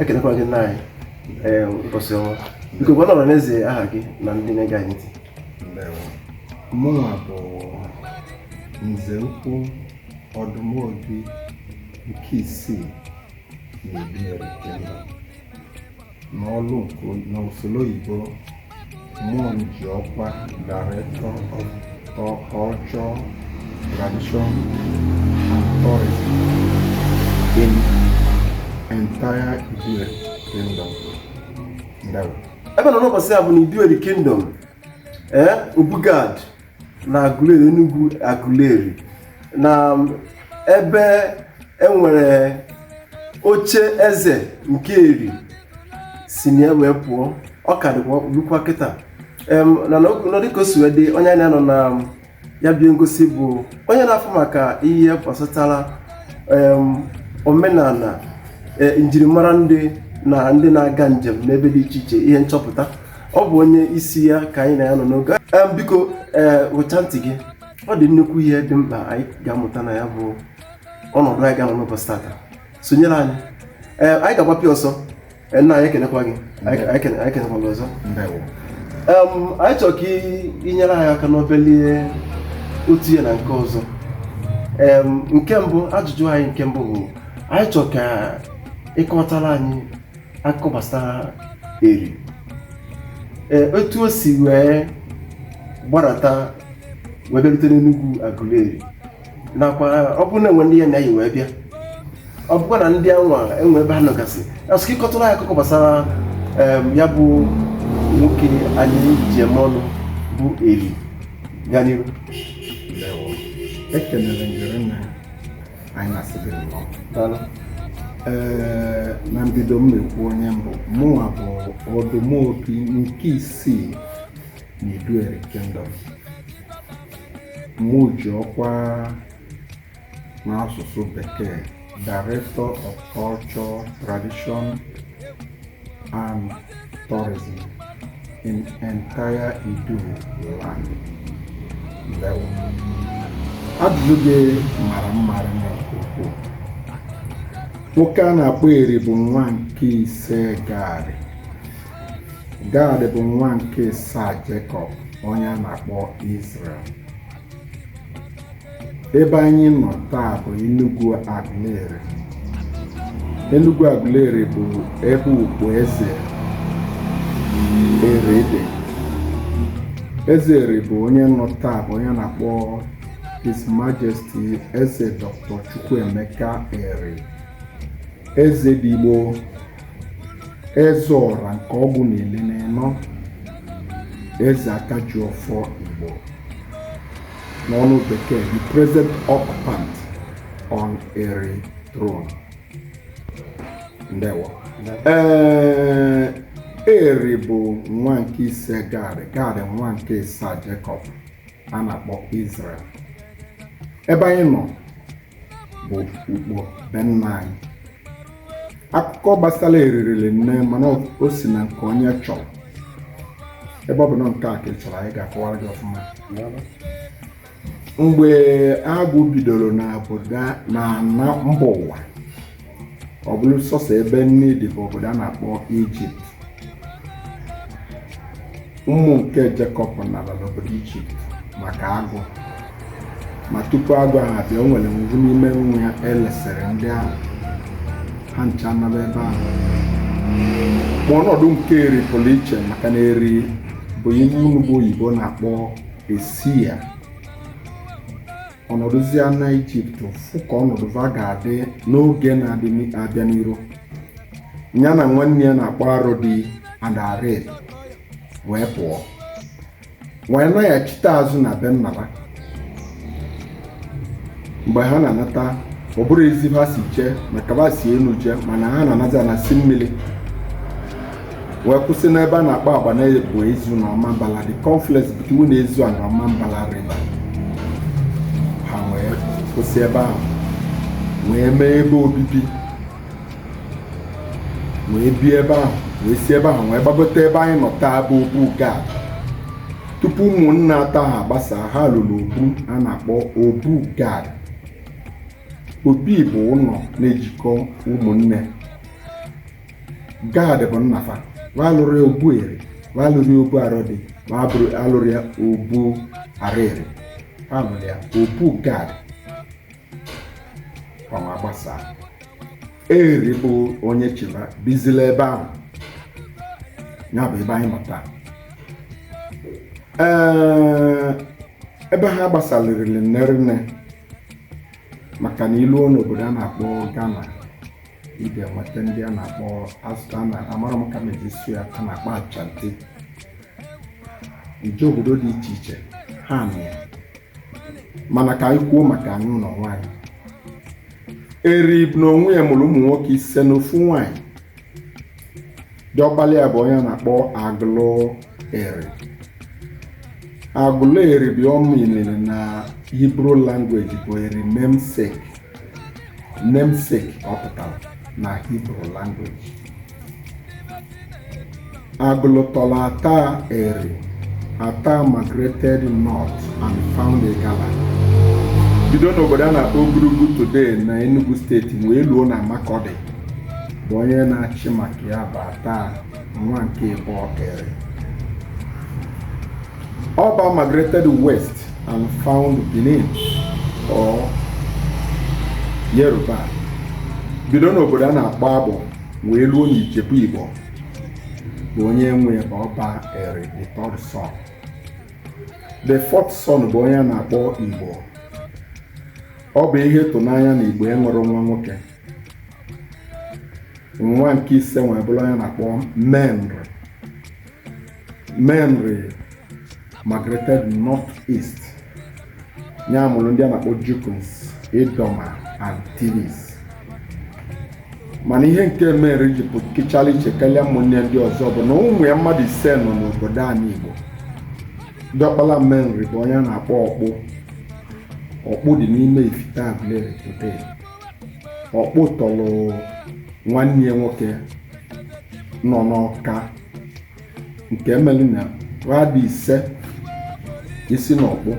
ekenekwa gị nna anyị ee ụbọchị ọma biko gwa nọrọ n'eze aha gị na ndị na-ege anyị ntị mụnwa bụ nze ukwu ọdụmobi nke isii na Iduu Eri Kingdom n'ọlụ nke n'usoro oyibo Mụ ji ọkwa Director of Culture, Tradition and Tourism in entire Iduu Eri Kingdom. Ebe ị nọ n'ụbọchị a bụ na Iduu Eri Kingdom, eh, Obu Gad. na Aguleri Enugwu Aguleri na ebe e nwere oche eze nke Eri si na ya wee pụọ ọ ka dịkwa lukwa kịta em na nọ dịka o si wee dị onye anyị na ya nọ na ya bụ ihe ngosi bụ onye na-afụ maka ihe gbasatara em omenala e, njirimara ndị na ndị na-aga njem n'ebe dị iche iche ihe nchọpụta ọ bụ onye isi ya ka anyị na ya nọ n'oge biko ee weta ntị gị ọ dị nnukwu ihe dị mkpa anyị ga-amụta na ya bụ ọnọdụ anyị ga-anọ n'ụbọchị tata sonyere anyị ee anyị ga-agbapị ọsọ nna anyị ekenekwa gị anyị kenekwa gị ọzọ anyị chọrọ ka i nyere anyị aka n'obele otu ihe na nke ọzọ nke mbụ ajụjụ anyị nke mbụ bụ anyị chọrọ ka ị kọtara anyị akụkọ gbasara Eri ee otu o si wee gbarata wee bịarute n'Enugwu Aguleri nakwa ọ bụrụ na e nwee ndị ya na ha yi wee bịa ọ bụkwa na ndị anwa e nwee ebe ha nọgasị a sị ka ị kọtụrụ anyị akụkọ gbasara ya bụ nwoke anyị ji eme ọnụ bụ Eri gaa n'ihu ekelere njere nna anyị na-asị gị nnọọ daalụ ee na mbido m na-ekwu onye m bụ mụnwa bụ ọdụmobi nke isii na Iduu Eri Kingdom mụ ji ọkwa n'asụsụ bekee Director of Culture, Tradition and tourism in entire Iduu land. Ndewo. Ajụjụ gị mara mma nke ukwuu. Nwoke a na-akpọ Eri bụ nwa nke ise Gad. Gad bụ nwa nke ịsaa Jekọb onye a na-akpọ Izrel. ebe anyị nọ taa bụ Enugu Aguleri Enugu Aguleri bụ ebe ukpo eze Eri dị eze Eri bụ onye nọ taa bụ onye a na-akpọ His Majesty Eze Dr. Chukwuemeka Eri eze ndị Igbo eze ọra nke ọgụ na ili n'enọ eze aka ji ọfọ igbo n'ọnụ bekee the present occupant on eri throne ndewo ee eri bụ nwa nke ise gad gad nwa nke isaa jacob a na-akpọ israel ebe anyị nọ bụ ukpo be nna anyị akụkọ gbasara eri riri nne mana o si na nke onye chọrọ ebe ọ bụ na nke a ka ị chọrọ anyị ga-akọwara gị ọfụma mgbe agụụ bidoro na obodo na ana mba ụwa ọ bụrụ sọsọ ebe nni dị bụ obodo a na-akpọ ijipt ụmụ nke jekọb nara n'obodo ijipt maka agụụ ma tupu agụụ ahụ abịa o nwere ovu n'ime nwa ya e lesịrị ndị ahụ ha ncha nara ebe ahụ ma ọnọdụ nke eri pụrụ iche maka na eri bụ ihe unu bụ oyibo na-akpọ a seer ọ nọdụzia na ijipt fụ ka ọnọdụ va ga-adị n'oge na-abịa n'iru ya na nwanne ya a na-akpọ arodi na areli wee pụọ wee naghachite azụ na be nna ha mgbe ha na-anata ọ bụrọ ezi va si jee maka va si enu jee mana ha na-anata na si mmiri wee kwụsị n'ebe a na-akpọ agbanabo ezu na ọmambala the confluence between ezu and ọmambala river ha wee kwụsị ebe ahụ wee mee ebe obibi wee bie ebe ahụ wee si ebe ahụ wee gbagote ebe anyị nọ taa bụ obu gad tupu ụmụnne atọ ahụ agbasa ha lụrụ obu a na-akpọ obu gad obi bụ ụnọ na-ejikọ ụmụnne gad bụ nna fa va alụrọ ya obu eri va alụrọ ya obu arodi va alụrọ ya obu areli ha lụrụ ya obu gad va wee gbasaa eri bụ onye chịba bizila ebe ahụ ya bụ ebe anyị nọ taa ee ebe ha gbasalị rili nne ri nne maka na i luo n'obodo a na-akpọ Ghana ị ga-enweta ndị a na-akpọ azụta na amara m ka mejisi ya a na-akpọ ashanti ije obodo dị iche iche ha na ya mana ka anyị kwuo maka anyị ụlọ nwaanyị eri na onwe ya mụrụ ụmụ nwoke ise na ofu nwaanyị diọkpala ya bụ onye a na-akpọ agụlụ eri agụlụ eri ihe ọ meanịrị na hebrew language bụ eri namesake ọ pụtara na hebrew language agụlụ tọrọ ata eri ata migrated north and found igala bido n'obodo a na-akpọ ogurugu today na enugu steeti wee luo na makurdi bụ onye na-achị maka ya bụ ata nwa nke ịtọ eri ọba migrated west and found benin or yoruba bido n'obodo a na-akpọ agbọ wee luo n'ijebu igbo bụ onye nwe ọba eri the third son the fourth son bụ onye a na-akpọ igbo ọ bụ ihe ịtụnanya na igbo enwerọ nwa nwoke nwa nke ise wee bụrụ onye a na-akpọ menri menri migrated north east ya mụrụ ndị a na-akpọ jukuns idoma and tivs mana ihe nke menri ji pụkịchala iche karịa ụmụnne ya ndị ọzọ bụ na ụmụ ya mmadụ ise nọ n'obodo anị igbo diọkpala menri bụ onye a na-akpọ ọkpụ ọkpụ dị n'ime ifite aguleri today ọkpụ tọrọ nwanne ya nwoke nọ n'ọka nke mere na ha dị ise i si n'ọkpụ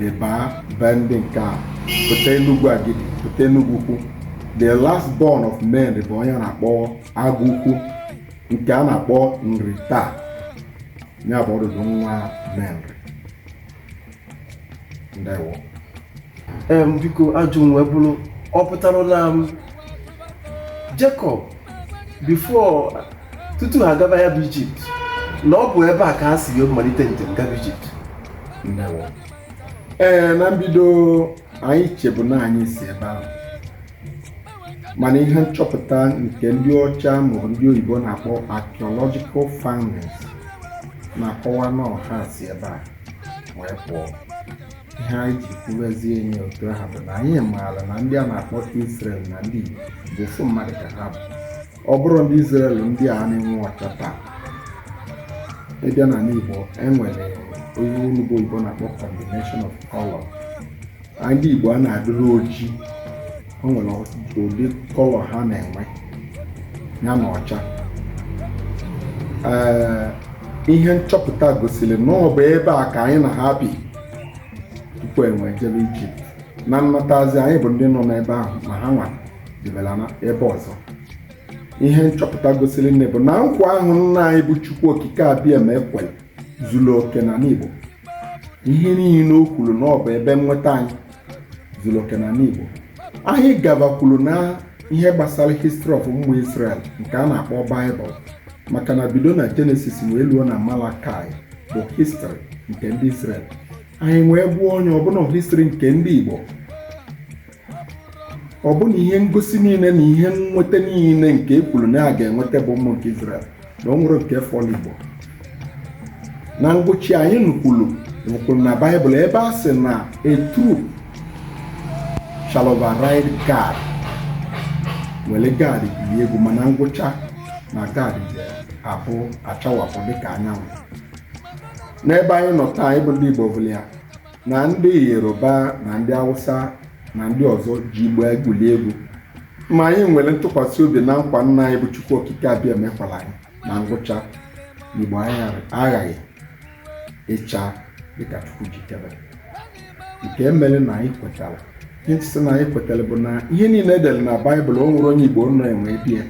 ị baa be ndị nke a pụta enugwu agidi pụta enugwu ukwu the last born of menri bụ onye a na-akpọ agụ ukwu nke a na-akpọ nri taa ya bụ ọdụdụ nwa menri eem biko ajụjụ m wee bụrụ ọ pụtara na em Jacob before tutu ha gaba ya bụ Ijipt na ọ bụ ebe a ka ha si malite njem gaba Ijipt ee na mbido anyị chebu na anyị si ebe ahụ mana ihe nchọpụta nke ndị ọcha ma ndị oyibo na-akpọ archaeological findings na-akọwa na ọ ha si ebe a wee pụọ ihe anyị ji kwubezie ya otu ahụ bụ na anyị maara na ndị a na-akpọ Israel na ndị Igbo bụ ofu mmadụ ka ha bụ ọ bụrọ ndị Israel ndị a na-enwu ọcha taa ị bịa n'ala Igbo e nwere ihe onye oyibo na-akpọ combination of color ndị Igbo a na-adịrị oji o nwere ụdị kọlọ ha na-enwe ya na ọcha ee ihe nchọpụta gosiri na ọ bụ ebe a ka anyị na ha bi tupu enwe jebe ije na nnatazi anyị bụ ndị nọ n'ebe ahụ ma ha nwa debela ebe ọzọ ihe nchọpụta gosiri nne bụ na nkwa ahụ nna anyị bụ Chukwu Okike Abịama kwere zuru oke na ndị Igbo ihe niile o kwuru na ọ bụ ebe nnweta anyị zuru oke n'ala Igbo anyị gabakwuru na ihe gbasara history of ụmụ Israel nke a na-akpọ Bible maka na bido na Genesis wee luo na Malakai bụ history nke ndị Israel anyị wee gụọ ya ọ bụ na history nke ndị Igbo ọ bụ na ihe ngosi niile na ihe nnweta niile nke e kwuru na a ga-enweta bụ ụmụ nke Izrel na o nwerọ nke fọlụ Igbo na ngwụcha anyị nukwuru kwuru na Baịbụl ebe a sị na a troop shall override Gad were Gad gwurie egwu mana ngwụcha na Gad ga-abịa chawapụ dịka anyanwụ n'ebe anyị nọ taa anyị bụ ndị Igbo bụla ya na ndị yoruba na ndị awụsa na ndị ọzọ ji igbo egwuli egwu ma anyị nwere ntụkwasị obi na nkwa nna anyị bụ chukwu okike abịama kwelụ anyị na ngwụcha igbo anyị aghaghị ịcha dịka chukwu jikere nke mere na anyị kwetara ihe sị na anyị kwetara bụ na ihe niile e dere na baịbụl o nwerọ onye igbo na-enweghị ya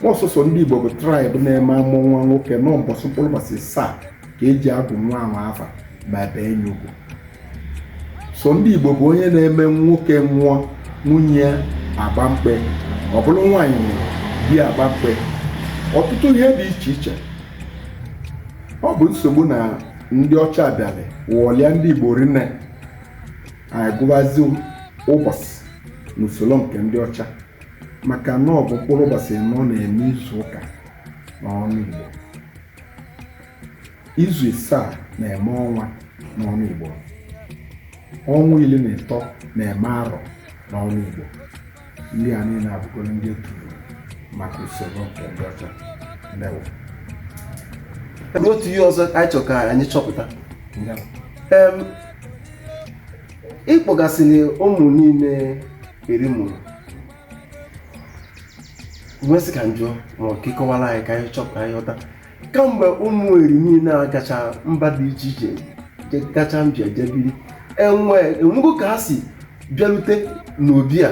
ọ sọsọ ndị igbo bụ traịb na-eme a mụọ nwa nwoke na mbọsị mkpụrụ ụbọchị asaa ka e ji agụ nwa ahụ afa ma e bee ya ugwu sọ ndị Igbo bụ onye na-eme nwoke nwụọ nwunye agba mkpe ọ bụrụ nwaanyị nwụrụ di agba mkpe ọtụtụ ihe dị iche iche ọ bụ nsogbu na ndị ọcha abịalị wụọlịa ndị Igbo rinne anyị gụbazi ụbọchị n'usoro nke ndị ọcha maka na ọ bụ mkpụrụ ụbọchị anọ na-eme izu ụka n'ọnụ Igbo izu isaa na-eme ọnwa n'ọnụ Igbo ọnwa iri na ịtọ na-eme arọ n'ọnụ Igbo ndị a niile abụgoro ndị e tufuru maka usoro nke ndị ọcha ndewo otu ihe ọzọ anyị chọrọ ka anyị chọpụta Em, ị kpọgasịrị ụmụ niile Eri mụrụ m wee sị ka m jụọ ma ọ ka ịkọwara anyị ka anyị chọpụta ka anyị ghọta kamgbe ụmụ eri niile a gacha mba dị iche iche je- gacha mba jee biri enwe enwego ka ha si bịarute n'obi a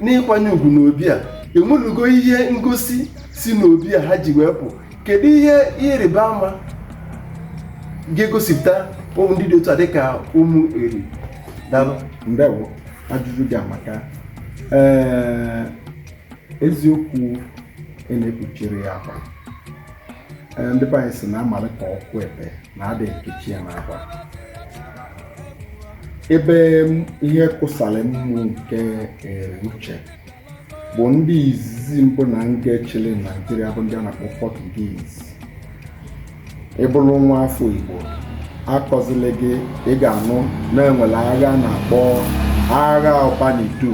n'ịkwanye ugwu n'obi a enwelugo ihe ngosi si n'obi a ha ji wee pụ kedu ihe ihe ịrịba ama ga-egosipụta ụmụ ndị dị otu a dịka ụmụ eri dalụ ndewo ajụjụ gị amaka ee eziokwu na-ekpuchiri ya akwa ndị be anyị sị na amalị ka ọkụ ebe na adị ekechi ya n'akwa ebe ihe kwụsara mmụ nke uche bụ ndị izizi mbụ na nke chịrị naijiria bụ ndị a na-akpọ pọtugiz ị bụrụ nwa afọ igbo akọzili gị ị ga-anụ na e nwere agha a na-akpọ agha ọba n'idu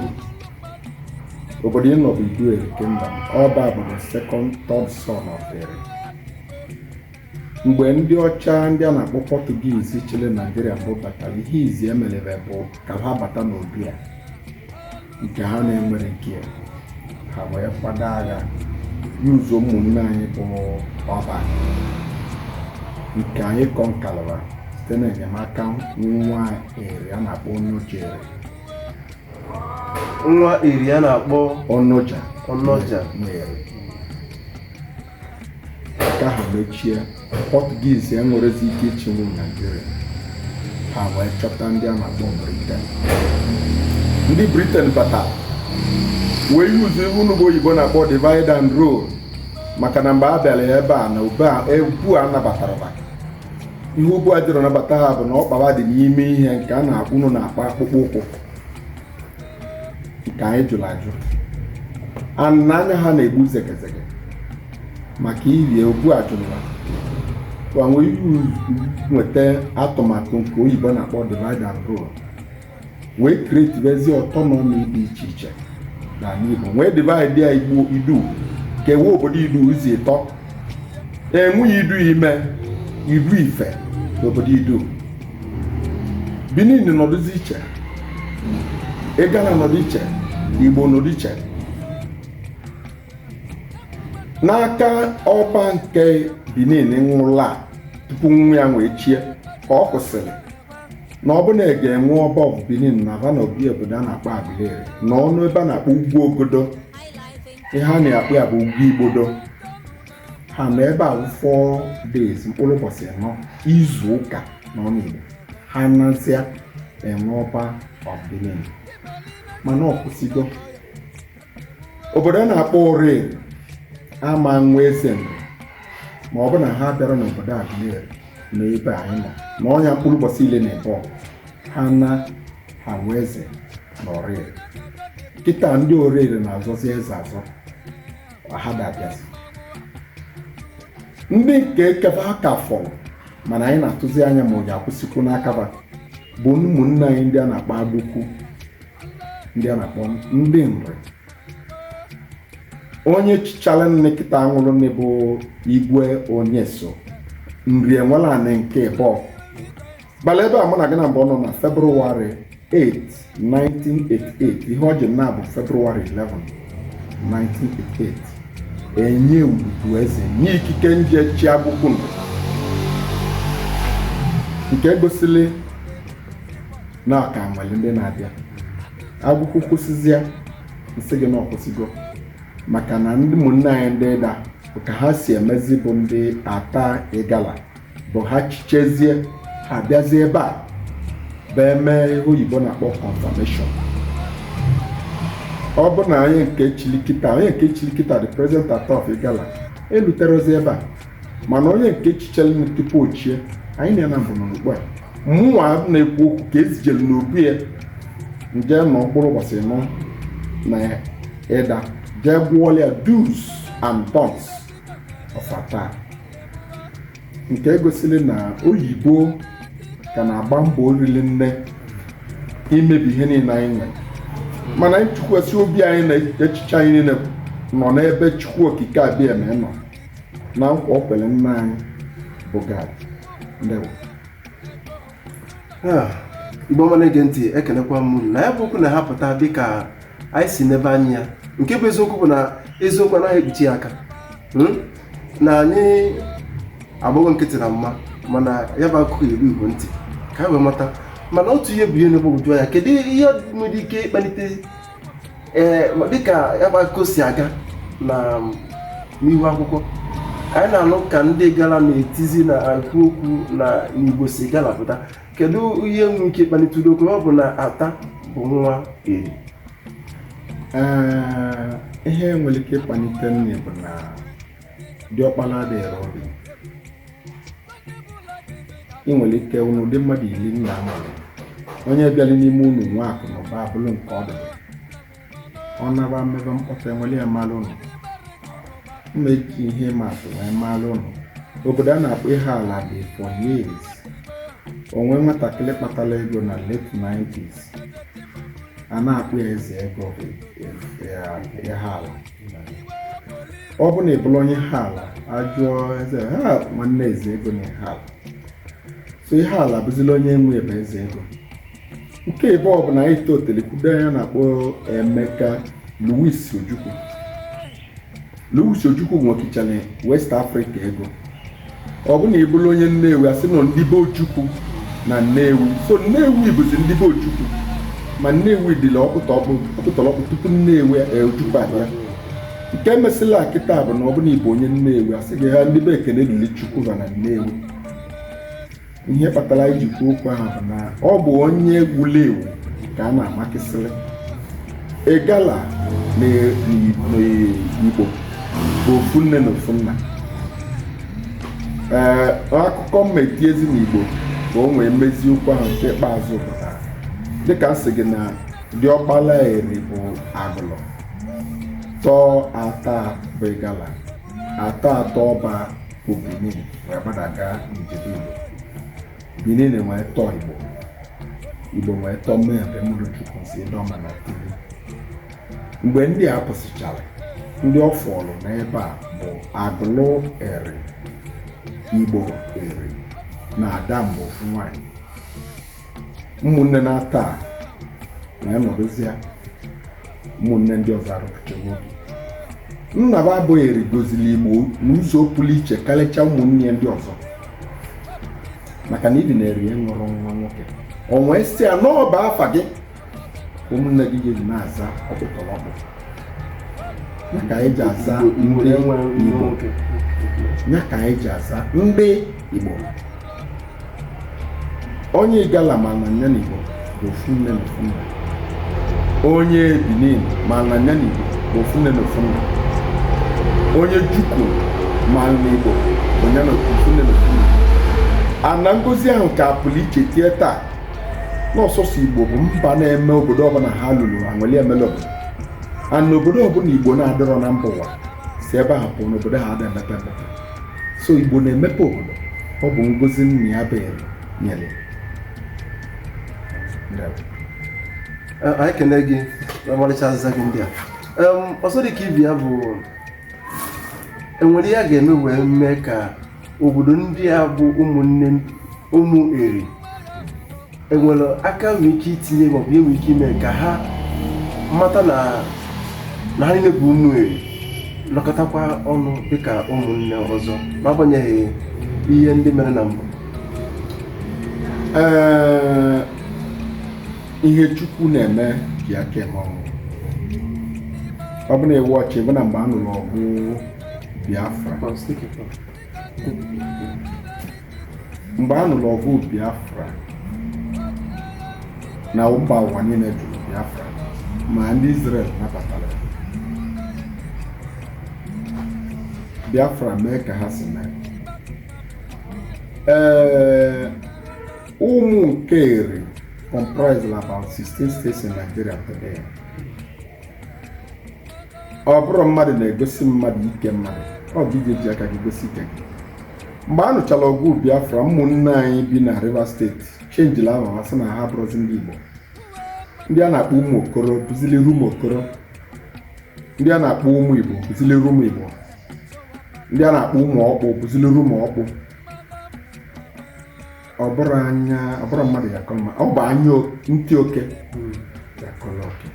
obodo ị nọ bụ idu eri kingdom ọba bụ the second third son of Eri mgbe ndị ọcha ndị a na-akpọ pọtugiz chịrị naijiria mbụ batara ihe izizi e merebe bụ ka ha bata n'obi a nke ha na-enwerọ ike ha wee kwado agha yuzo ụmụnne anyị bụ ọba nke anyị kọnkalụra site n'enyemaka nwa eri a na-akpọ onoja nwa eri a na-akpọ onoja onoja nwa eri nke ahụ mechie pọtugiz enwerọzi ike ịchịnwu naijiria ha wee chọta ndị a na-akpọ briten ndị briten bata wee yuzo ihe unu bụ oyibo na-akpọ divide and rule maka na mgbe ha bịara ya ebe a n'obi ebe a anabatarọ ha maka ihe obu a jirọ nabata ha bụ na ọkpa ha dị n'ime ihe nke a na-akpọ unu na-akpọ akpụkpọ ụkwụ nke anyị jụrụ ajụ na anya ha na-egbu zegezege maka ihi ya obu ajụla gbanwe iwu nweta atụmatụ nke oyibo na-akpọ divide and rule wee kretibezi ọtọnọmi dị iche iche n'ala Igbo wee divide ya igbo idu kewe obodo idu ụzọ ịtọ e nwezie idu ime idu ife n'obodo idu Benin nọdụzi iche Igala nọdụ iche Igbo nọdụ iche n'aka ọba nke Benin nwụla tupu nwa ya wee chie ka ọ kwesịrị na ọ bụ na a ga-ewe ọba of Benin naba n'obi a obodo a na-akpọ Aguleri na ọnụ ebe a na-akpọ ugwu ogodo ihe a na-akpọ ya bụ ugwu igbodo ha nọ ebe a four days mkpụrụ ụbọchị anọ izu ụka na ọnụ Igbo ha nazịa enwe ọba ọdịnihu mana ọ kwụsịgo obodo a na-akpọ Oreri ama nwe eze Nri ma ọ bụ na ha bịara n'obodo Aguleri na ebe anyị nọ nọnye mkpụrụ ụbọchị ile na ebe ha na ha nwe eze na Oreri kịta ndị Oreri na-azọzi eze azọ ma ha ga-abịazi ndị nke ka abịa ka fọrọ mana anyị na-atụzi anya ma onye akwụsịkwu na-aka abịa bụ ụmụnne anyị ndị a na-akpọ Agụkwu ndị a na-akpọ ndị Nri onye chichara nni kịta nwụrụ nni bụ igwe Onyeso Nri Enwelanị nke ịbọ gbara ebe a mụ na gị na mbụ nọ na February 8 1988 ihe o ji naa bụ February 11 1988 enye Ududu eze nye ikike nje chi Agụkwu nke gosili na ọ ka nwere ndị na-abịa Agụkwu kwụsịzịa nsị gị na ọ kwụsịgo maka na ndị ụmụnne anyị ndị Ịda ka ha si emezi bụ ndị Ata Igala bụ ha chichazie ha bịazie ebe a bụ eme ihe oyibo na-akpọ confirmation ọ bụ na onye nke chili kịta onye nke chili kịta the present Ata of Igala eluterozi ebe a mana onye nke chichalụ tupu o chie anyị na ya na mbụ n'okpu a mụnwa na-ekwu okwu ka e zijelu n'obi ya nje nọ mkpụrụ ụbọchị anọ na Ịda jee gụọla ya do's and don'ts ọkwa taa nke gosiri na oyibo ka na-agba mbọ oriri nne imebi ihe niile anyị nwere mana anyị tụkwasị obi anyị na echiche anyị niile nọ n'ebe Chukwu Okike Abịama nọ na nkwa o kwere nna anyị bụ Gad ndewo Ah, Igbo ọma na-ege ntị ekenekwa m unu na ya bụ okwu na-ahapụta dịka anyị si nebe anya nke bụ eziokwu bụ na eziokwu anaghị ekpuchi ya aka Hmm? na anyị agbago nkịtị na mma mana ya bụ akụkọ eru Igbo ntị ka anyị wee mata mana otu ihe bụ ihe na-egbagwoju anya kedu ihe nwere ike ịkpalite ee dịka ya bụ akụkọ si aga na n'ihu akwụkwọ ka anyị na-anụ ka ndị Igala na-etizi na-ekwu okwu na ndị Igbo si Igala pụta kedu ihe nwere ike ịkpalite ụdị okwu ọ bụ na Ata bụ nwa Eri Ee, ihe nwere ike ịkpalite nni bụ na diọkpala adịghị ọrụ ị nwere ike unu dị mmadụ iri nna mụrụ onye bịara n'ime unu nwee akụ na ụba abụrụ nke ọdụdụ ọ naba mmebe mkpọtụ enwere ya mara ụnụ mma eji ihe ịma atụ wee mara ụnụ obodo a na-akpọ Ihiala dị for years o nwe nwatakịrị kpatara ego na late 90s a na-akpọ ya eze ego Ihiala ọ bụ na ị bụrụ onye Ihiala a jụọ eze ha nwanne eze ego na Ihiala so Ihiala bụzila onye nwe ebe eze ego nke ịbụọ bụ na anyị totele kwudo onye a na-akpọ Emeka Louis Ojukwu Louis Ojukwu nwekichara West Africa ego ọ bụ na ị bụrụ onye Nnewi a sị na ndị be Ojukwu na Nnewi so Nnewi bụzi ndị be Ojukwu ma Nnewi dịla ọkpụtọrọkpụ tupu Nnewi e, Ojukwu abịa nke mesịla kịta bụ na ọ bụ na ị bụ onye Nnewi a sị gị ha ndị be Ekene Dili Chukwu ha na Nnewi ihe kpatara anyị ji kwuo okwu ahụ na ọ bụ onye egwuregwu ka a na-amakịsịrị Igala n'Igbo bụ ofu nne na ofu nna ee akụkọ mmeti ezi n'igbo ka o nwee mmezi okwu ahụ nke ikpeazụ pụtara dịka m sị gị na diọkpala Eri bụ Agụlụ tọọ Ata bụ Igala Ata tọọ Ọba bụ Benin wee gbadaga jee Idu Benin wee tọọ Igbo Igbo wee tọọ Menri mụrụ Juku si Idoma na Tiv mgbe ndị a pụsịchara ndị ọ fọrọ n'ebe a bụ Agụlụ Eri Igbo Eri na Adamgbo ofu nwanyị ụmụnne n'atọ a wee nọdụzia ụmụnne ndị ọzọ arụpụta nwoke nna ba bụ Eri gọzili Igbo n'ụzọ pụrụ iche karịcha ụmụnne ndị ọzọ maka na ịdị na-eri ya ṅụrụ nwa nwoke o wee sị ya na ọ bụ afa gị ụmụnne gị ga-eji na-aza ọkpụtọrọkpụ ya ka anyị ji aza ndị Igbo ya ka anyị ji aza ndị Igbo onye Igala ma na nya n'Igbo bụ ofu nne na ofu nna onye Benin ma na nya n'Igbo bụ ofu nne na ofu nna onye Juku ma na Igbo bụ nya na ofu nne na ofu nna mana ngozi ahụ ka pụrụ iche tie taa na ọ sọsọ Igbo bụ mba na-eme obodo ọbụla ha lulu e nwee development and obodo ọbụla igbo na-adịrọ na mba ụwa si ebe ahụ pụọ na obodo a ada emepe emepe so igbo na-emepe obodo ọ bụ ngozi nna ya bụ Eri nyere ya. Ndewo. Eh, anyị kene gị na ọmarịcha azịza gị ndị a Em, ọzọ dị ka ibe ya bụ enwere ihe a ga-eme wee mee ka obodo ndị a bụ ụmụnne ụmụ eri enwere aka enwere ike itinye maọbụ enwere ike ime ka ha mata na na ha niile bụ ụmụ eri nọkọtakwa ọnụ dịka ụmụnne ọzọ n'agbanyeghị ihe ndị mere na mbụ ee ihe chukwu na-eme ji aka eme ọ bụ ọ bụ na ị watchị bụ na mgbe a nụrụ ọgụ Biafra mgbe a nụrụ ọgụ Biafra na mba ụwa niile jụrụ Biafra ma ndị Israel nabatara Biafra mee ka ha si mee ee ụmụ nke Eri comprised about 16 states in Nigeria today. ọ bụrọ mmadụ na-egosi mmadụ ike mmadụ ọ bụ ị je-eji aka gị gosi ike gị mgbe a nụchara ọgụ biafra ụmụnne anyị bi na rivers state chenjila aha ha sị na ha abụrọzi ndị igbo ndị a na-akpọ ụmụ okoro bụzili rumuokoro ndị a na-akpọ ụmụ igbo bụzili rumuigbo ndị a na-akpọ ụmụ ọkpụ bụzili rumuọkpụ ọ bụrọ anya ọ bụrọ mmadụ ya-akọ mma ọ bụ anya o- ntị oke ya-akọrọ oke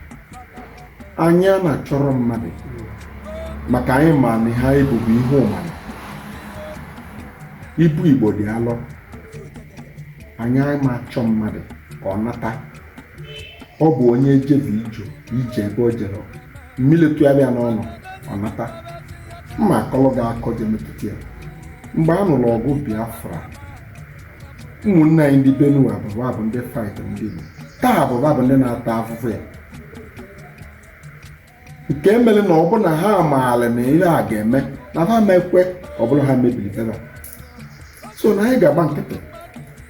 anya na-achọrọ mmadụ maka anyị ma na ha ebubu ihe ụmara ibu igbo dị alọ anyị ama achọ mmadụ ka ọ nata ọ bụ onye jebe ajọ ije ebe o jere mmiri tụgharịa n'ọnụ ọ nata mma akọlọ ga-akọ je metụta ya mgbe a nụrụ ọgụ biafra ụmụnne anyị ndị Benue ọ bụ ha bụ ndị fight ndị Igbo taa ọ bụ ha bụ ndị na-ata afụfụ ya nke mere na ọ bụ na ha maara na ihe a ga-eme na ha ama ekwe ọ bụ na ha mebiri be ha so na anyị ga-agba nkịtị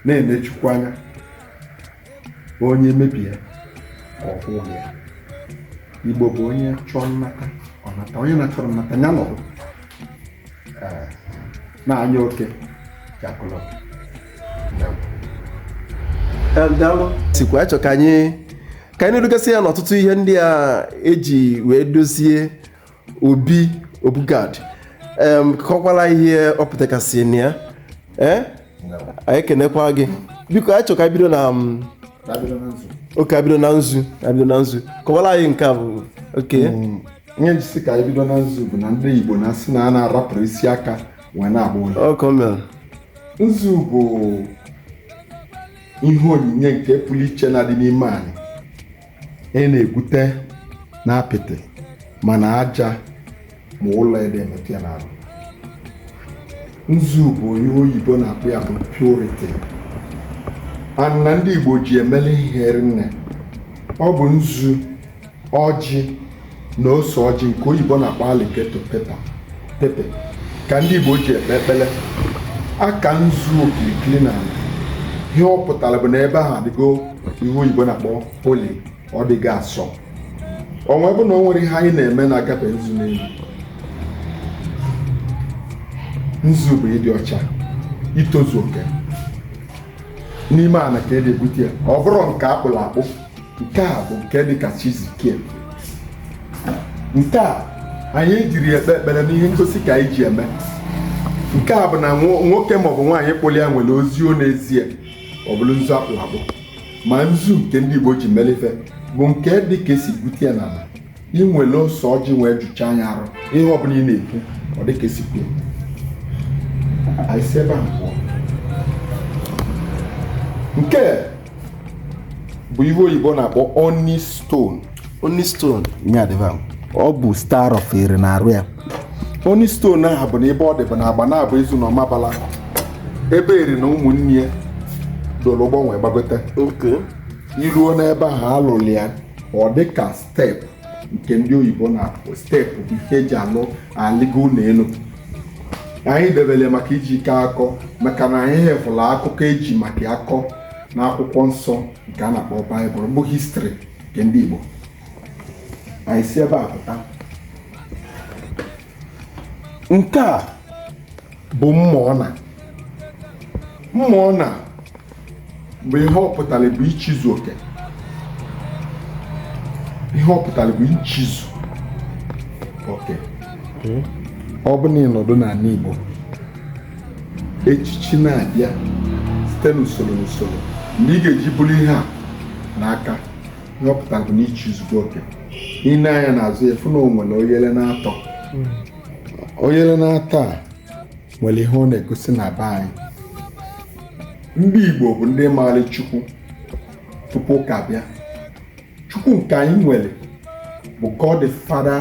na-ene chukwu anya onye mebie ka ọ kwụọ ya igbo bụ onye chọọ nnata ọ nata onye na-achọrọ nnata ya nọdụ na anya oke ja-akọlọ sikwa achọ ka anyị ka anyị na-edugasị ya n'ọtụtụ ihe ndị a eji wee dozie obi obu gad em kọkwala ihe ọ pụtagasị na ya ee anyị kenekwa gị biko anyị chọrọ ka anyị bido na mm, okay abido na nzu abido na nzu kọwara anyị nke a bụ oke ihe njisi ka anyị bido na nzu bụ na ndị igbo na-asị na a na-arapụrọ isi aka wee na-agba ụlịọ ọ ka o mere nzu bụ ihe onyinye nke pụrụ iche na-adị n'ime anyị ị na-egwute na apịtị mana aja ma ụlọ adị emetụ ya n'arụ nzu bụ ihe oyibo na-akpọ ya bụ purity and na ndị igbo ji emeli ihe rinne ọ bụ nzu ọjị na ose ọjị nke oyibo na-akpọ alligator pepper pepe ka ndị Igbo ji ekpe ekpele a kaa nzu okilikili n'ana ihe ọ pụtara bụ na ebe ahụ adịgo ihe oyibo na-akpọ holy ọ dịgo asọ ọnwa bụ na o nwere ihe anyị na-eme na-akabe nzu n'elu nzu bụ ịdị ọcha itozu oke n'ime ala ka e na-egwute ya ọ bụrụ nke akpụrụ akpụ nke a bụ nke dị ka chi si kee ya nke a anyị ejirọ ya ekpe ekpere n'ihe ngosi ka anyị ji eme nke a bụ na nwoke maọbụ nwaanyị kpụrụ ya nwere ozi ọ na-ezi ọ bụrụ nzu akpụ akpụ ma nzu nke ndị Igbo ji emeli ife bụ nke dị ka e si gwute ya n'ala ị nwere ose ọjị wee jụcha anya arụ ihe ọbụla ị na-ekwu ọ dị ka i si kwuo anyị si ebe a pụọ nke bụ ihe oyibo na-akpọ onyx stone onyx stone nye adịba m. ọ bụ star of Eri n'arụ ya onyx stone ahụ bụ na ebe ọ dị bụ na Agbanabo Ezu na ọmabala ebe eri na ụmụnne ya doro ụgbọ nwee gbagote okay i ruo n'ebe ahụ a lụlụ ya ọ dị ka step nke ndị oyibo na-akpọ step bụ ihe eji alụ alịgo ụlọ elu anyị debere maka iji ike akọ maka na anyị hefụla akụkọ eji maka akọ na akwụkwọ nsọ nke a na-akpọ Bible bụ history nke ndị igbo anyị si ebe a pụta nke a bụ mma ọna mma ọna bụ ihe ọ pụtara bụ ichizu oke ihe ọ pụtara bụ ichizu oke ọ bụ na ị nọdụ n'ala Igbo echichi na-abịa site n'usoro n'usoro mgbe ị ga-eji buru ihe a n'aka ihe ọ pụta bụ na i chizugo oke i nee anya n'azụ ya fụ na o nwere oyele na-atọ oyele na-atọ a nwere ihe ọ na-egosi na be anyị ndị Igbo bụ ndị maara Chukwu tupu ụka bịa Chukwu nke anyị nwere bụ God the Father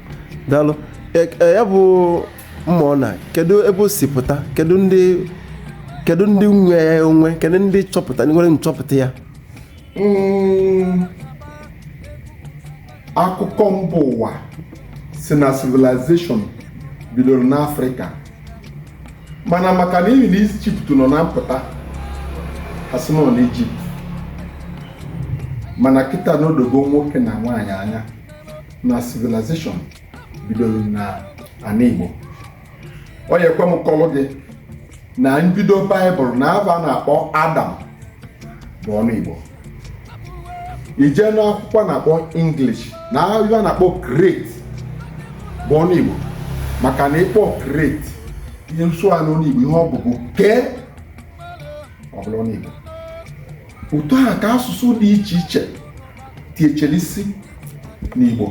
daalụ E- e, ya bụ mma ọ na kedu ebe o si pụta kedu ndị kedu ndị nwe ya onwe kedu ndị chọpụta nwere nchọpụta ya Mm, akụkọ mba ụwa sị na civilization bidoro n'afrịka mana maka na ihi na ijipt nọ na mpụta ha sị na ọ n'ijipt mana kịta na o dogo nwoke na nwaanyị anya na civilization bidoro na ana Igbo ọ ya ekwe m kọlụ gị na mbido baịbụl na ava a na-akpọ adam bụ ọnụ Igbo i je n'akwụkwọ a na-akpọ English na ava a na-akpọ create bụ ọnụ Igbo maka na ị kpọ create ị sụa n'ọnụ Igbo ihe ọ bụ bụ kee ọ bụrụ ọnụ Igbo otu a ka asụsụ dị iche iche tiechere isi n'Igbo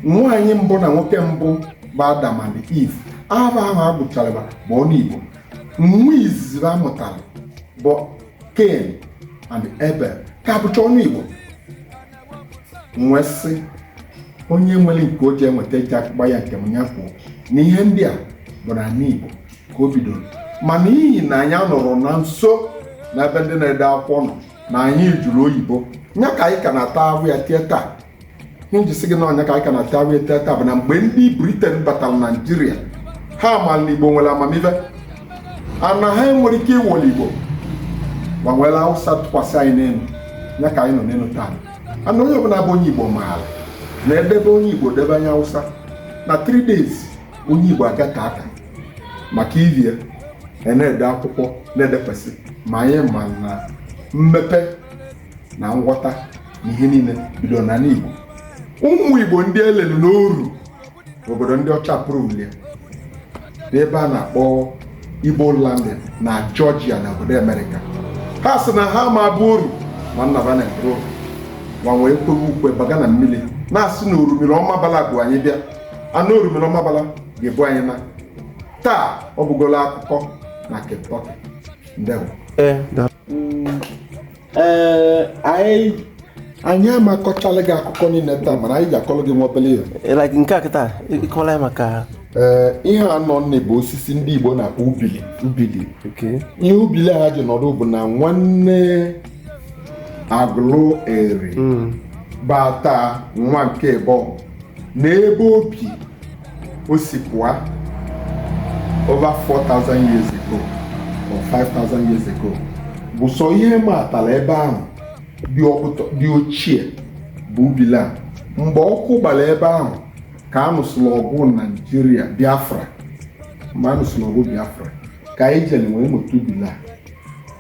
nwaanyị mbụ na nwoke mbụ bụ Adam and Eve aha ahụ a gụchara bụ ọnụ Igbo nwa izizi ha mụtara bụ Cain and Abel ka bụcha ọnụ Igbo wee sị onye nwere nke o ji eweta e ji agbagha nke m ya kwuo na ihe ndị a bụ na Igbo ka o bidoro ma n'ihi na anyị anọrọ na nso na ebe ndị na-ede akwụkwọ nọ na anyị jụrụ oyibo nya ka anyị ka na-ata ahụhụ ya till taa ihe m ji sị gị na ọ nya ka anyị ka na-ata ahụhụ ya till taa bụ na mgbe ndị briten batara naijiria ha mara na igbo nwere amamihe ana ha enwere ike iwere igbo ha ewere awụsa tụkwasị anyị n'elu ya ka anyị nọ n'elu taa and onye ọbụla bụ onye igbo maara na e debe onye igbo debe onye awụsa na 3 days onye igbo agata aka maka iri ya a na-ede akwụkwọ na-edekwesị ma anyị ma na mmepe na nghọta na ihe niile bido n'ana Igbo ụmụ Igbo ndị e lelu n'oru obodo ndị ọcha pụrụli ya n'ebe a na-akpọ Igbo landing na Georgia na obodo Amerịka ha sị na ha ama abụ oru ma nnaba na mpụrụ oru ha ewee kwewe ukwe baga na mmiri na-asị na orumiri Ọmambala bu anyị bịa na orumiri Ọmambala ga-ebu anyị naa taa ọ bụgolo akụkọ na Kentucky ndewo ee anyị anyị ama akọchala gị akụkọ niile taa mana anyị ga-akọrọ gị nwa obele ihe eh, like nke a kịta ị kọla ya maka ee eh, ihe anọ nne bụ osisi ndị Igbo na-akpọ ubili ubili ihe ubili a ji nọdụ bụ na nwanne Aguleri hmm. bata nwa nke bụ na ebe obi o si pụọ over 4,000 years ago or 5,000 years ago bụ sọ ihe matara ebe ahụ dị ọkụtọ dị ochie bụ ubila mgbe ọkụ gbara ebe ahụ ka a nụsịrị ọgụ naijiria biafra mgbe a nụsịrị ọgụ biafra ka anyị jere wee mụta ubila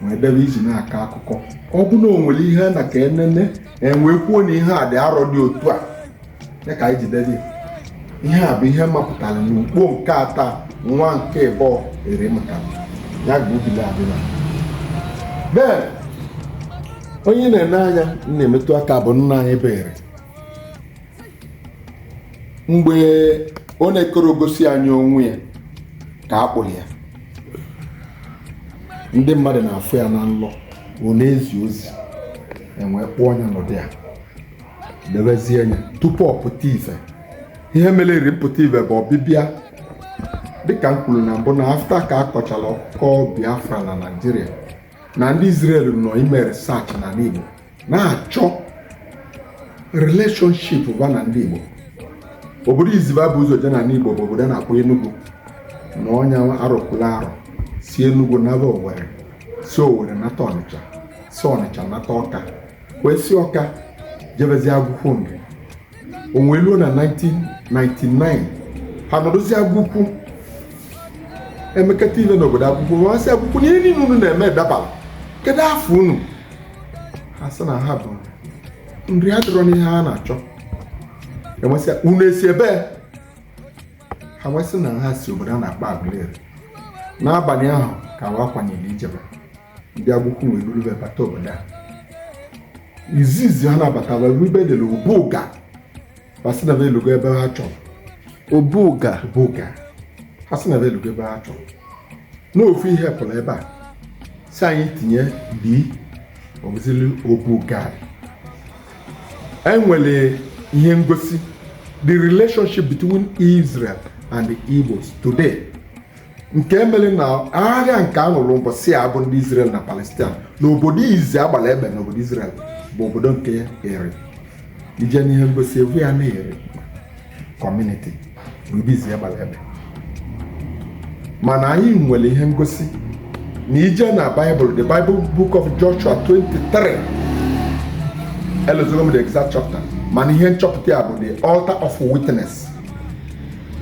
wee debe iji na-akọ akụkọ ọ bụ na o nwere ihe na ka enene e wee kwuo na ihe a dị arọ dị otu a ya ka anyị ji debe ya. ihe a bụ ihe mapụtara n'ugbo nke ata nwa nke ịbọ ere maka ya bụ ubila adịla bee onye na-ene anya na-emetụ aka bụ nna anyị bụ Eri mgbe ọ na-ekoro gosi anyị onwe ya ka a kpụrụ ya ndị mmadụ na-afụ ya na nlọ ọ na-ezi ozi e wee kpụọ nya n'ụdị ya debezie nya tupu ọ pụta ife ihe mere Eri mpụta ife bụ ọbịbịa dịka m kwuru na mbụ na after ka a kọchara akụkọ biafra na naijiria na ndị Israel nọ ime research na Igbo na-achọ relationship va na ndị Igbo obodo izi va bu ụzọ je na Igbo bụ obodo a na-akpọ Enugu na ọ nya arụpụla arụ si Enugu naba Owerri si Owerri nata Ọnịcha si Ọnịcha nata Ọka wee si Ọka jebezie Agukwu Nri o wee ruo na 1999 ha nọrọzi Agukwu emekata ive n'obodo Agukwu wee sị Agukwu na ihe niile unu na-eme dabara kedu afa unu ha sị na ha bụ Nri adịrọ n'ihe ha na-achọ e wee sị unu esi ebee ha wee sị na ha si obodo a na-akpọ Aguleri n'abalị ahụ ka wa kwanyere ijebe ndị Agukwu wee buru wee bata obodo a izizi ha nabatara ebe e dere Obuga Obuga ha sị na elugo ebe ha chọrọ n'ofu ihe pụrụ ebe a si anyị tinye bi ozili Obuga e nwere ihe ngosi the relationship between Israel and the Igbos today nke mere na agha nke a lụrụ mbọsị a bụ ndị Israel na Palestine na obodo izi a gbara egbe na obodo Israel bụ obodo nke Eri i je n'ihe ngosi egwu ya na Eri community bụ ebe izi a gbara egbe mana anyị nwere ihe ngosi na i je na Bible the Bible book of Joshua 23 elozogo m the exact chapter mana ihe nchọpụta ya bụ the altar of witness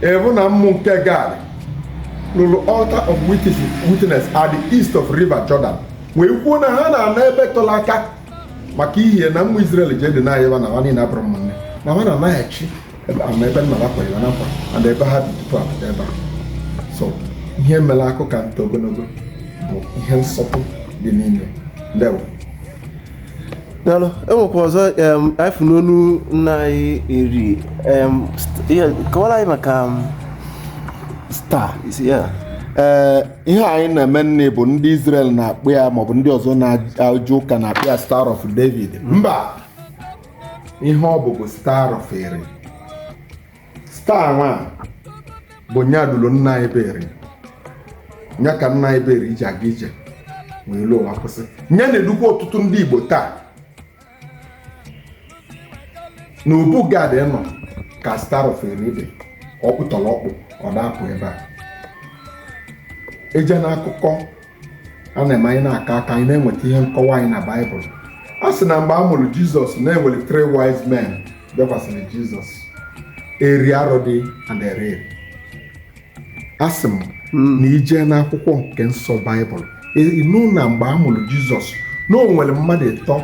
Ị fụ na ụmụ nke Gad lụrụ altar of witness at the east of river Jordan wee kwuo na ha na-ana ebe tere aka maka ihe na ụmụ Israel jide na anyịwa na ha niile abụrụ ụmụnne na ha na-anaghachi ama ebe nna ha kwere na nkwa and ebe ha dị tupu apụta ebe a so ihe mere akụ ka nta ogologo bụ ihe nsọpụ dị n'ime ndewo daalụ e nwekwa ọzọ anyị fụ n'ọnụ nna anyị Eri kọwara anyị maka star ee ihe anyị na-eme nne bụ ndị Israel na-akpọ ya maọbụ ndị ọzọ na-eje ụka na-akpọ ya star of David mba ihe ọ bụ bụ star of Eri star nwa bụ nya duru nna anyị bụ Eri nya ka nna anyị bụ Eri ji aga ije wee luo nwa kwụsị nya na-edukwa ọtụtụ ndị Igbo taa na Obu Gad nwa ka star of Eri dị ọkpụtọrọkpụ ọ da-apụ ebe a eje n'akụkọ a na-eme anyị na-aka aka anyị na-enweta ihe nkọwa anyị na baịbụl a sị na mgbe a mụrụ jizọs na e nwere three wise men bịakwasịrị jizọs Eri Arodi and Areli asị m na i je n'akwụkwọ nke nsọ baịbụl ị nụ na mgbe a mụrụ jizọs na o nwere mmadụ ịtọ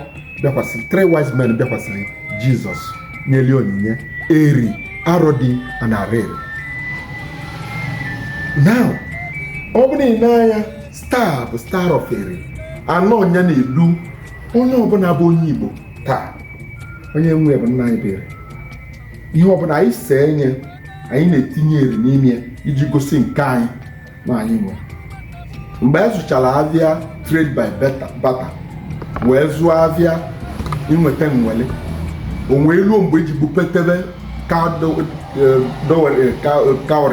bịakwasịrị three wise men bịakwasịrị jizọs nyeli onyinye Eri Arodi and Areli now ọ bụrụ na ị nee anya star bụ star of Eri a nwa ọ nya na-edu onye ọbụla bụ onye Igbo taa onye nwe e bụ nna anyị bụ Eri ihe ọbụla anyị see nye anyị na-etinye Eri n'ime ya iji gosi nke anyị na anyị nwe e mgbe anyị zụchara avịa trade by barter wee zụọ avịa i weta m were o wee luo mgbe e ji bupụtebe cowrie eh,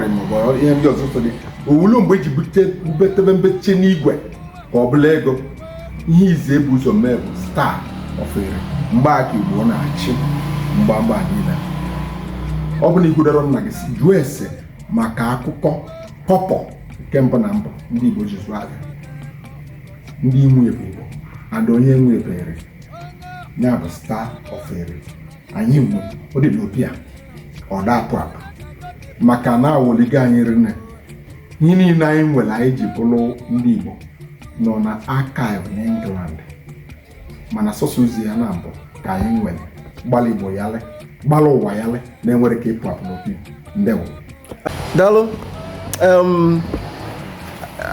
eh, maọbụ ihe ndị ọzọ so dị o wee luo mgbe e ji bupụtebe mbeche n'igwe ka ọ bụrụ ego ihe izizi e bu ụzọ mee bụ star of Eri mgbe aka Igbo na-achị mgbamgba niile ọ bụrụ na i kwudoro nna gị jụọ ese maka akụkọ kọpọ nke mbụ na mbụ ndị Igbo ji zụọ avịa ndị nwe e bụ Igbo and onye nwe e bụ Eri ya bụ star of Eri anyị nwe e ọ dị n'obi a ọ da-apụ apụ maka na a wọligo anyị rinne ihe niile anyị nwere anyị ji bụrụ ndị Igbo nọ na archive n'England mana sọsọ ozi ya na mbụ ka anyị nwere gbalụ igbo yalị gbalụ ụwa yalị na-enwere ka ịpụ apụ n'opi ndewo daalụ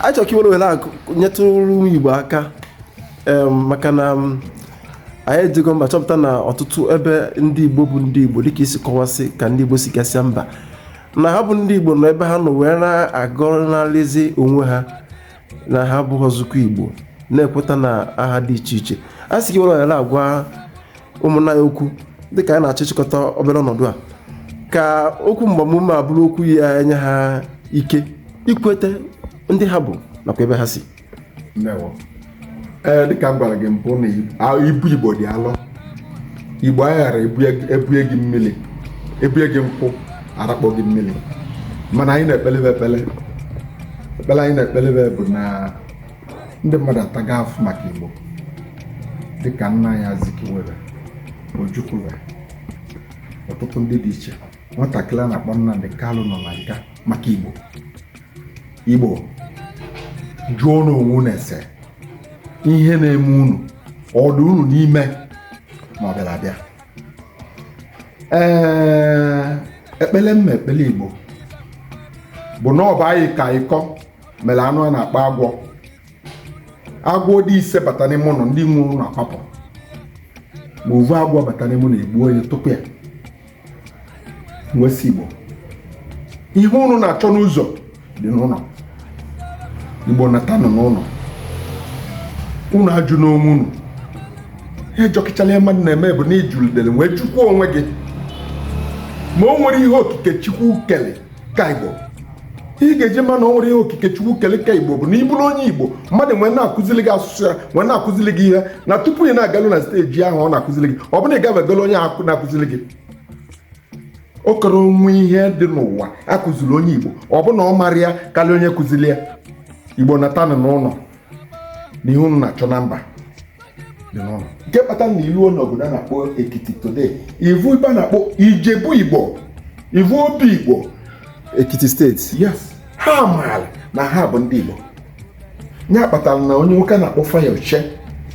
achọrọ ka i were ohere a nyetụrụ ụmụ igbo aka maka na anyị ejego mba chọpụta na ọtụtụ ebe ndị igbo bu ndị igbo dịka i si kọwasị ka ndị igbo si gasịa mba na ha bụ ndị igbo nọ ebe ha nọ wee na-agọnarịzi onwe ha na ha abụhọzịkwọ igbo na-ekweta na aha dị iche iche a sị ka i were ohere a gwa ụmụnna anyị okwu dịka anyị na-achọ ịchịkọta obere ọnọdụ a ka okwu mgbamume a bụrụ okwu ya-enye ha ike ikweta ndị ha bụ nakwa ebe ha si Ndewo. ee dịka m gwara gị mbụ na i- a- ibu igbo dị alọ igbo aghara ebue gị mmiri ebue gị nkụ arakpọ gị mmiri mana anyị na-ekpelebe ekpele ekpele anyị na-ekpelebe bụ na ndị mmadụ ataga afụ maka igbo dịka nna anyị Azikiwe be Ojukwu be ọtụtụ ndị dị iche nwatakịrị a na-akpọ Nnamdi Kanu nọ na nga maka igbo igbo jụọnụ onwe unu ese ihe na-eme unu ọ dị unu n'ime ma ọ bịara abịa ee ekpele m na-ekpele igbo bụ na ọ bụ anyị ka ịkọ mere anụ a na-akpọ agwọ agwọ dị ise bata n'ime ụlọ ndị nwe ụlọ akwapụ ma ovu agwọ bata n'ime ụlọ egbuo ya tụpụ ya m wee sị igbo ihe ụnụ na-achọ n'ụzọ dị n'ụlọ igbo natanụ n'ụlọ ụnụ ajụna onwe ụnụ ihe jọkachalụ ihe mmadụ na-eme bụ na ijulidere wee jụkwuo onwe gị ma o nwerọ ihe okike chukwu kele ka igbo ị ga-eji ma na o nwerọ ihe okike chukwu kele ka igbo bụ na ị bụrụ onye igbo mmadụ wee na-akụzili gị asụsụ ya wee na-akụzili gị ihe na tupu ị na-agalu na steji ahụ ọ na-akụzili gị ọ bụ na ị gavegala onye ahụ na-akụzili gị ọ karọ enwe ihe dị n'ụwa akụziri onye igbo ọ bụ na ọ mara ya karịa onye kụziri ya igbo natanụ n'ụlọ na ihe unu na-achọ na mba dị n'ụlọ nke kpatara na i luo n'obodo a na-akpọ ekiti today ị vụ ebe a na-akpọ ijebu igbo ị vụ obi igbo ekiti steeti yes ha maara na ha bụ ndị igbo ya kpatara na onye nwoke a na-akpọ Fayose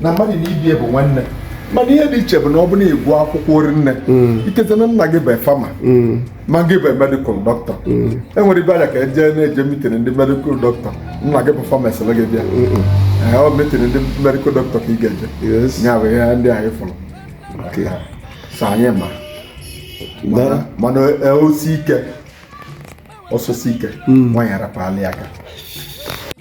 na mmadụ na ibe ya bụ nwanne mana ihe dị iche bụ na ọ bụrụ na ị gụọ akwụkwọ orinne mm. ikete na nna gị bụ fama mm. ma gị bụ medikal dọkịta mm. e nwere ebe anyị ka eje na-eje mitin ndị medikal dọkịta nna gị bụ fama sị gị bịa ọ bụ mitin ndị medikal dọkịta ka ị ga-eje ya bụ ihe ndị anyị fụrụ so anyị ma mana e, o sie ike ọsọ sie ike nwaanyị arapụ ala ya aka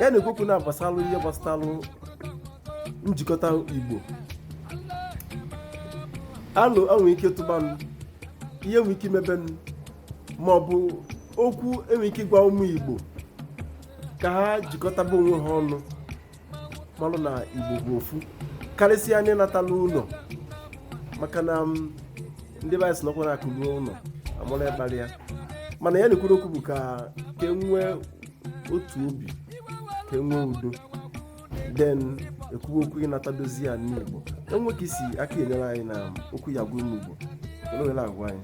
ya na-ekwu okwu na-agbasalụ ihe gbasalụ njikọta igbo alo enwe ike tụbanụ ihe enwe ike imebenụ ma ọ bụ okwu enwe ike ịgwa ụmụ igbo ka ha jikọtaba onwe ha ọnụ malụ na igbo bụ ofu karịsịa ndị natanụ ụlọ maka na ndị be anyị sị nọkwa na akụ ruo ụlọ amara onye kpara ya mana ya na-ekwuru okwu bụ ka ka enwee otu obi ka enwee udo then ekwuwe okwu ịnata dozie ana igbo enwe ka isi aka enyere anyị na okwu ya gwa ụmụ igbo ele agwa anyị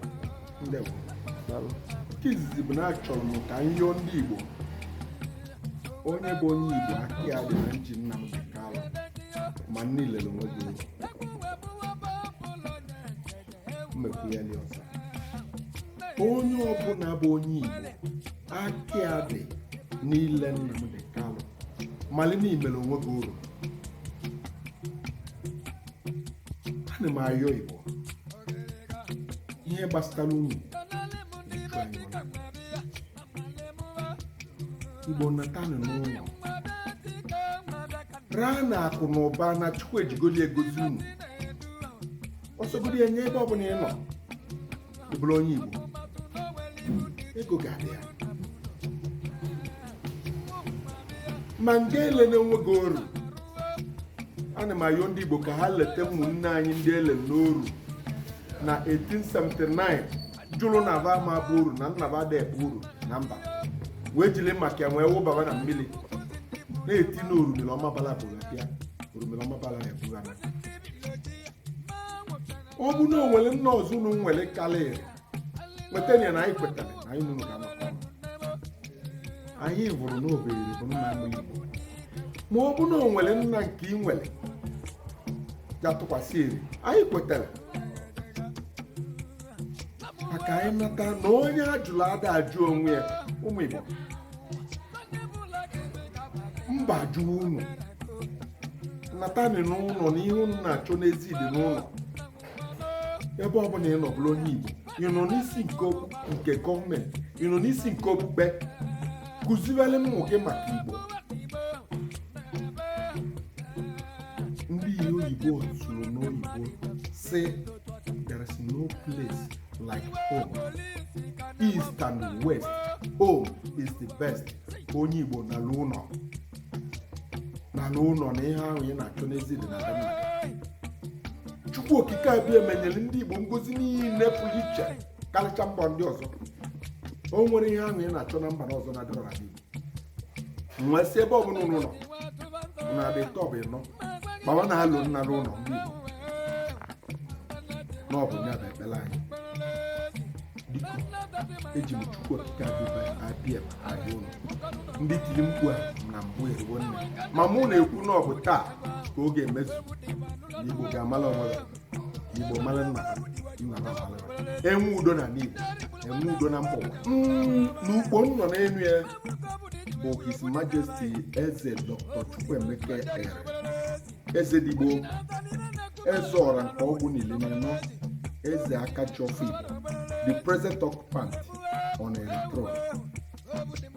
nke izizi bụ na achọrọ m ka m yọọ ndị Igbo onye bụ onye Igbo aka ya dị na nji Nnamdi Kanu ma na i lere onwe gị mmekwu ya dị ọzọ onye ọbụla bụ onye Igbo aka ya dị n'ile Nnamdi Kanu malị na i mere onwe gị oru ana m ayọ igbo ihe gbasara ụmụ igbo natanụ n'ụlọ raa na akụ na ụba na chukwu ejigoli gọzie unu ọsọgodi enye ebe ọbụla ị nọ bụrụ onye Igbo ego ga-adị ya ma nga elena onwe gị oru ana m ayọ ndị Igbo ka ha lota ụmụnne anyị ndị e lelụ n'oru na 1879 jụrụ na aba ama bụ oru na nna ba ada abụ oru na mba wee jiri maka ya wee wụbaba na mmiri na-eti na orumiri ọmambala bu bịa orumiri ọmambala na-ebugharị ọ bụ na o nwere nna ọzọ unu nwere karịrị nweta ya na anyị kwetara na anyị niile ga-anọkọ ọnụ. anyị bụrụ na ọ bụ eri bụ nna ndị igbo ma ọ bụ na o nwere nna nke ị nwere ga-atụkwasị eri anyị kwetara ka anyị mata na onye ajụrụ ada ajụ onwe ya ụmụ igbo mba jụọ unu natanụ n'ụlọ na ihe unu na-achọ n'ezi dị n'ụlọ ebe ọ bụla ị nọ bụrụ onye Igbo ị nọ n'isi nke okwu nke gọọmenti ị nọ n'isi nke okpukpe kụziwere ụmụ gị maka Igbo ndị ihe oyibo zuru na oyibo sị there is no place like home east and west home is the best onye igbo naa n'ụlọ naa n'ụlọ na ihe ahụ ị na-achọ n'ezi dị na be nna gị. chukwu okike abịama nyere ndị igbo ngozi niile pụrụ iche karịcha mba ndị ọzọ o nwere ihe ahụ ị na-achọ na mba ọzọ na-adịrọ na igbo nwee si ebe ọbụla unu nọ na dị tọb ịnọ gbawa na-alọ nata ụlọ ndị Igbo na ọ bụ ya bụ ekpere anyị biko eji m chukwu okike abịama abịa ụlọ ndị tiri mkpu a na mbụ eruwo nne ma mụ na-ekwu na ọ bụ taa ka ọ ga-emezu na Igbo ga-amala onwe ya igbo mara nna ha nna ha mara ha. enwe udo na n'igbo enwe udo na mba ụwa Mm, n'ukpo m nọ n'elu ya bụ his majesty eze dr chukwuemeka eri eze ndị igbo eze ọra nke ọgụ na iri na anọ eze aka ji ọfọ igbo the present occupant on eri throne